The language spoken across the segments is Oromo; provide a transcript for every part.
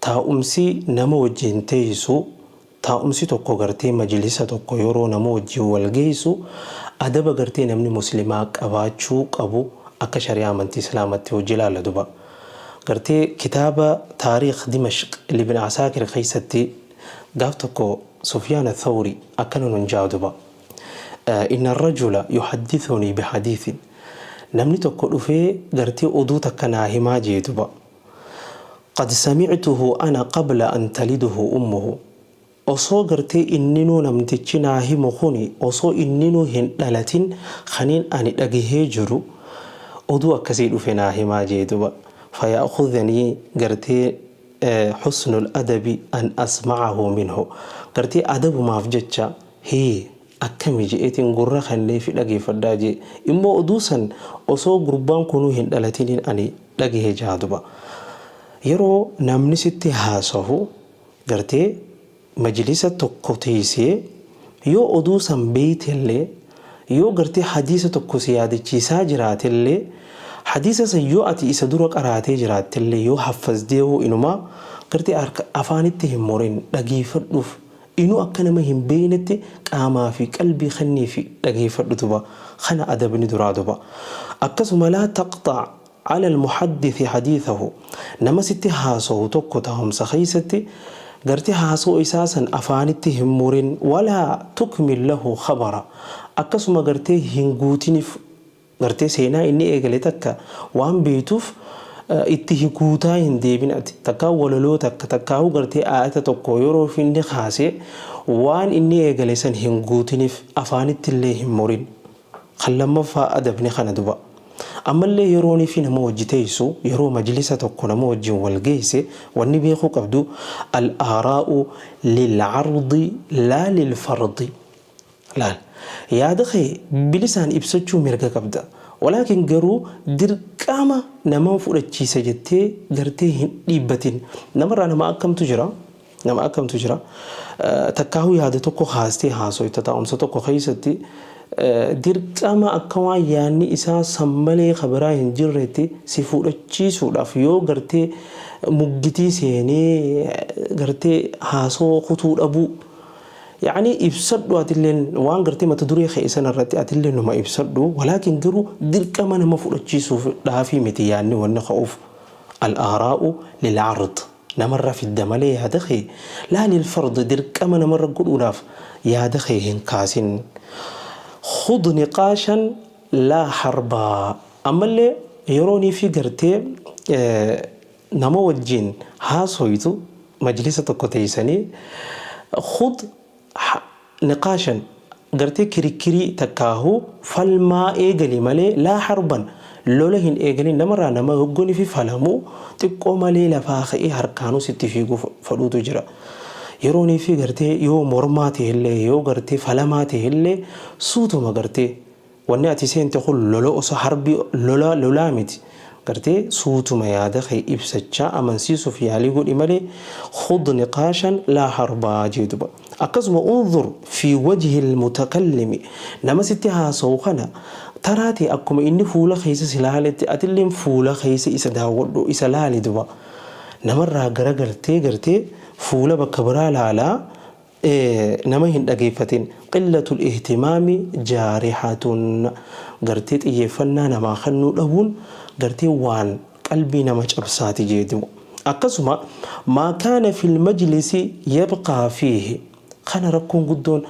Taa'umsi nama wajjiin teeysu, taa'umsi tokko gartee majlisa tokko yeroo nama wajjiin wal geeysu adaba gartee namni muslimaa qabaachuu qabu akka shari'aa amantii islaamatti hojji ilaalla duba. Gartee kitaaba taariikh dimashq libn asaakir keeysatti gaaf tokko sufyaan athawri akkana nun ja'a duba inna arrajula yuhaddithunii bihadiithin namni tokko dhufee gartee oduu takka naa himaa je'e duba. Qad samictuhu ana qabla an taliduhu ummuhu Osoo gartee inninuu namtichi naa himu kuni osoo inninuu hin dhalatin kanin ani dhagahee jiru oduu akkasii dhufe naa himaa jee duba faya'khudhanii gartee husnul adabi an asmacahu minhu gartee adabumaaf jecha hii Akkami je'eetiin gurra kenneefii dhageeffadhaa je'e. Immoo oduu san osoo gurbaan kunuu hin dhalatiniin ani dhagahe ja'a duba. Yeroo namni sitti haasahu gartee majlisa tokko teeysee yoo oduu san beeytellee yoo gartee hadiisa tokko si yaadachiisaa jiraatellee hadiisa san yoo ati isa dura qaraatee jiraattellee yoo haffazdee hoo inumaa gartee harka afaanitti hin murin dhageeyfadhuuf Inuu akka nama hin beeynetti qaamaa fi qalbii kennii fi dhageeyfadhu duba. Kana adabni duraa duba. Akkasuma laa taqxac cala almuxaddisi xadiithahu. Nama sitti haasawu tokko taa'umsa keeysatti gartee haasawa isaa san afaanitti hin murin. Walaa tukmil lahu khabara. Akkasuma gartee hin guutinif. Gartee seenaa inni eegale takka waan beeytuuf itti higuutaa hin deebin ati takkaa walaloo takka takkaahuu gartee aayata tokko yeroo finni kaase waan inni eegale san hin guutinif afaanittillee hin murin kan lammaffaa adabni kana duba ammallee yeroo nifi nama wajji teeysu yeroo majlisa tokko nama wajjin wal geeyse wanni beekuu qabdu al aaraa'u lil ardi laa lil fardi Laal. Yaada kee bilisaan ibsachuu mirga qabda. Walaakin garuu dirqaama naman fudhachiisa jettee gartee hin dhiibbatin. Namarraa nama akkamtu jira. Nama akkamtu jira. Takkaahuu yaada tokko kaastee haasoyta taa'umsa tokko keessatti dirqama akka waan yaanni isaa san malee ka biraa hin jirretti si fudhachiisuudhaaf yoo gartee muggitii seenee gartee haasoo kutuu dhabuu Ya'anii ibsadhu atilleen waan gartee mata duree ka'e sana irratti atillee numa ibsadhu walaakin garuu dirqama nama fudhachiisuuf dhaafii miti yaadni wanni ka'uuf al aaraa'u lil ard namarra fidda malee yaada kee laa lil fard dirqama namarra godhuudhaaf yaada kee hin kaasin khud niqaashan laa harbaa ammallee yeroonii fi gartee Nama wajjiin haasoytu majlisa tokko teeysanii khud ha niqaashan gartee kirikkirii takkaahu falmaa eegali malee laa harban lola hin eegalin namarraa nama hoggonifi falamu xiqqoo malee lafaa kha'ee harkaanu sitti fiigu fadhuutu jira yeroonifi gartee yoo mormaa tehellee yoo gartee falamaa tehellee suutuma gartee Wanni ati seente kun lola oso harbi lola lolaa miti gartee suutuma yaada kee ibsachaa amansiisuuf yaalii godhi malee khud niqaashan laa harbaa jee duba akkasuma unzur fi wajhil mutakallimi nama sitti haasawu kana taraa tee akkuma inni fuula keessa si laaletti atilleen fuula keessa isa daawwadhu isa laali duba namarraa garagaltee gartee fuula bakka biraa laalaa ee nama hin dhageeffatin qillatul ihtimaami jaarihatun gartee xiyyeeffannaa namaa kennuu dhabuun gartee waan qalbii nama cabsaati jee du akkasuma maa kaana fil majlisi yabqaa fiihi kana rakkoon guddoon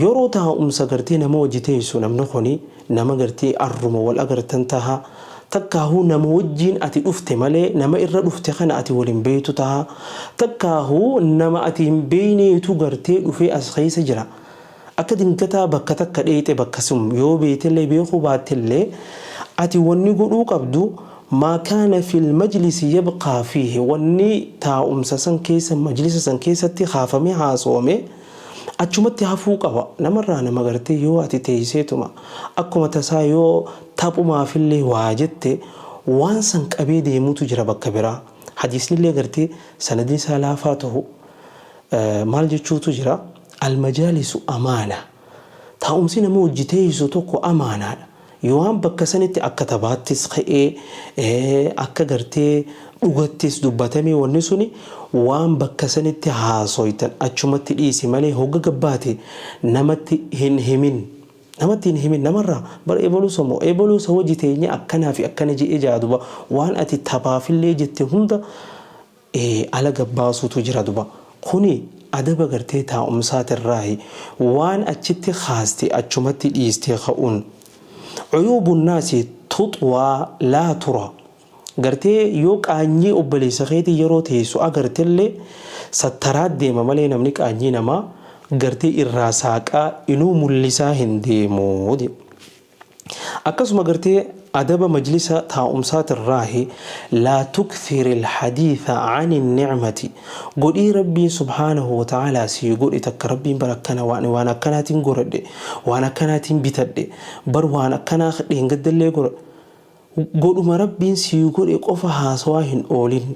yeroo taa'umsa gartee nama wajji teessu namni kuni Nama gartee arruma wal agartan taha, takkaahuu nama wajjiin ati dhufte malee nama irra dhufte kana ati wal hin beeytu taha, takkaahuu nama ati hin beeyneetu gartee dhufee as keeysa jira. Akka dingataa bakka takka dheeyxe bakka sun yoo beeytellee beekhuu baattellee ati wanni godhuu qabdu maa kaana fil majlisi yabqaa fiihi wanni taa'umsa san keeysa majlisa san keeysatti kaafamee haasawame Achumatti hafuu qaba. Namarraa nama gartee yoo ati teeyseetuma akkuma tasaa yoo taphumaafillee waa jette waan san qabee deemuutu jira bakka biraa. Hadiisnillee gartee sanadni isaa laafaa tahu maal jechuutu jira, Al-majaalisu amaana. Taa'umsi nama wajji teeysu tokko amaanaadha. Yihowaan bakka sanitti akka tabaattis ka'ee, akka gartee dhugattis dubbatamee wanni suni waan bakka sanitti haasoytan achumatti dhiisi malee hogga gabbaate namatti hin himin. Namatti hin himin namarraa bar ebaluu san moo ebaluu san wajji teenyee akkana fi akkana je'ee ja'a duba waan ati tabaafillee jette hunda ee ala gabbaasuutu jira duba kuni adaba gartee taa'umsaatirraahi waan achitti kaaste achumatti dhiistee ka'uun cuyuubun naasi tuxwaa laa tura gartee yoo qaanyii obboleessa keetii yeroo teessu agartellee sattaraat deema malee namni qaanyii namaa gartee irraa saaqaa inuu mullisaa hin deemu. Akkasuma gartee adaba majlisa taa'umsaatirraahi, laa tukthiril hadiitha ani nicmati, godhii Rabbiin subhaanahu wa ta'aalaa sii godhe takka Rabbiin bar akkana waan waan akkanaatiin goradhe, waan akkanaatiin bitadhe, bar waan akkanaa dheengaddallee godha, godhuma Rabbiin sii godhe qofa haasawaa hin oolin.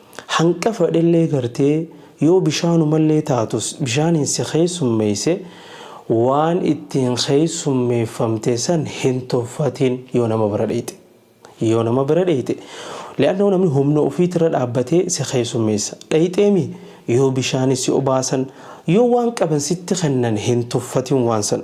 Hanqafadhellee gartee yoo bishaanumallee taatus bishaaniin si keessummeesse waan ittiin keessummeeffamte san hin tuffatin yoo nama bira dheeyxe. Yoo nama bira dheeyxe li'annahu namni humna ufiitirra dhaabbatee si keessummeessa. Dheeyxeemi yoo bishaani si obaasan yoo waan qaban sitti kennan hin tuffatin waan san.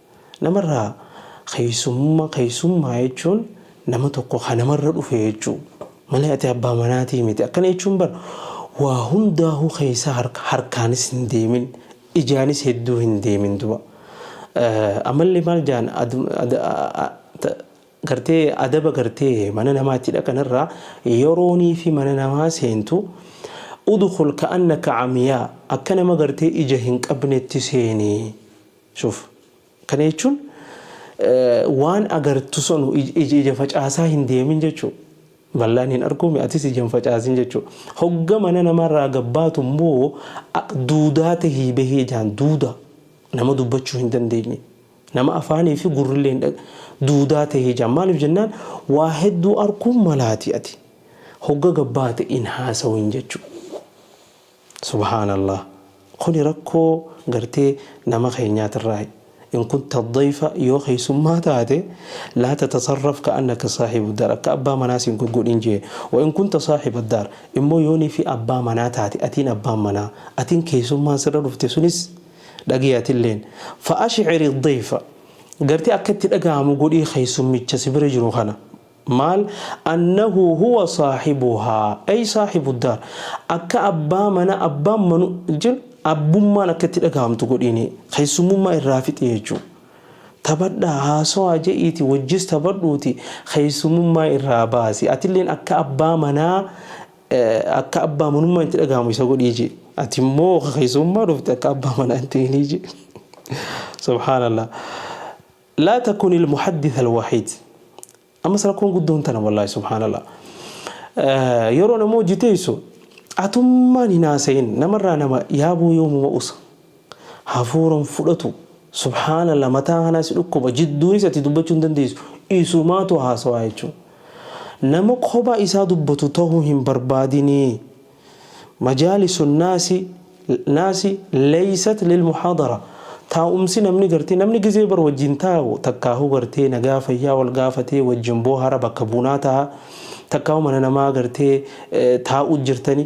Namarraa keessummaa keessummaa jechuun nama tokko kan namarra dhufe jechuu malee ati abbaa manaatii miti akkana jechuun bar waa hundaahuu keessa harka harkaanis hin deemin ijaanis hedduu hin deemin duba amallee maal jaan gartee adaba gartee mana namaatti dhaqanirraa yeroonii fi mana namaa seentu udkhul ka'annaka camiyaa akka nama gartee ija hin qabnetti seenii Shuf. Kana jechuun waan agartu sanu ija ija facaasaa hin deemin jechuu. Ballaan hin arguumi atis ija hin facaasin jechuu. Hogga mana namaarraa gabbaatu immoo duudaa tahii bahii ijaan duudaa. Nama dubbachuu hin dandeenye. Nama afaanii fi gurrillee hin dhag duudaa tahii ijaan maaliif jennaan waa hedduu arguun malaati ati. Hogga gabbaate hin haasawin jechuu. Subhaan Allah kuni rakkoo gartee nama keenyaatirraayi in kunta dayfa yoo keessummaa taate laa tatasarraf ka'annaka saahibu daar akka abbaa manaa siin goggodhin jee wa in kunta saahiba daar immoo yoo nifi abbaa manaa taate atiin abbaan manaa atiin keessummaan sirra dhufte sunis dhagahi atilleen fa ash'iri dayfa gartee akka itti dhagahamu godhii keessummicha si bira jiru kana Maal? Annahu huwa saahibuhaa ay saahibu daar akka abbaa mana abbaan manu jechuun abbummaan akka itti dhagahamtu godhiini keessummummaa irraa fixi jechuu taphadhaa haasawaa je'iiti wajjis taphadhuuti keessummummaa irraa baasi atilleen akka abbaa manaa akka abbaa manummaa itti dhagahamu isa godhii je ati immoo keessummaa dhufte akka abbaa manaa hin ta'inii je subhaanallah Laa takunil muhaddisal wahiid Ammas rakkoon guddoon tana wallaahi subhaanallah Yeroo nama hojii teessu atummaan hin haasayin namarraa nama yaabuu yoomuma usa hafuuran fudhatu subhaanallah mataa kanaa si dhukkuba jidduunis ati dubbachuu hin dandeessu isumaatu haasawaa jechuun Nama kophaa isaa dubbatu tahuu hin barbaadinii Majaalisu nnaasi naasi laysat lilmuhaadara Taa'umsi namni gartee namni gizee bar wajjin taa'u takkaahuu gartee nagaa fayyaa wal gaafatee wajjin boohara bakka bunaa taa'a takkaahuu mana namaa gartee taa'uu jirtani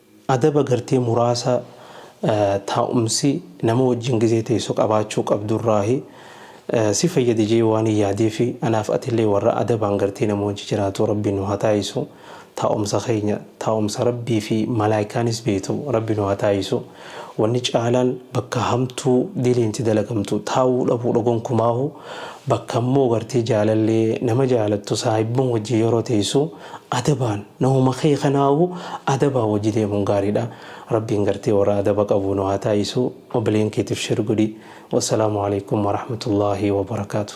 Adaba gartee muraasa taa'umsi nama wajjin gizee teessu qabaachuu qabdu irraahi si fayyadi je'ee waanin yaadeefi anaaf atillee warra adabaan gartee nama wajji jiraatu Rabbi nu ha taasisu taa'umsa keenya taa'umsa Rabbii fi malaaykaanis beeytu Rabbi nu ha taasisu wanni caalaan bakka hamtuu diliin itti dalagamtu taa'uu dhabuudha gonkumaahu bakka immoo gartee jaalallee nama jaalattu saahibban wajjin yeroo teessu Adabaan namuma kee kanaahu adabaa wajji deemun gaariidha rabbiin gartee warra adaba qabuu nu haa taayisuu obbileen keetif sher godhii wassalaamu aleykum warahmatullaahi wabarakatu.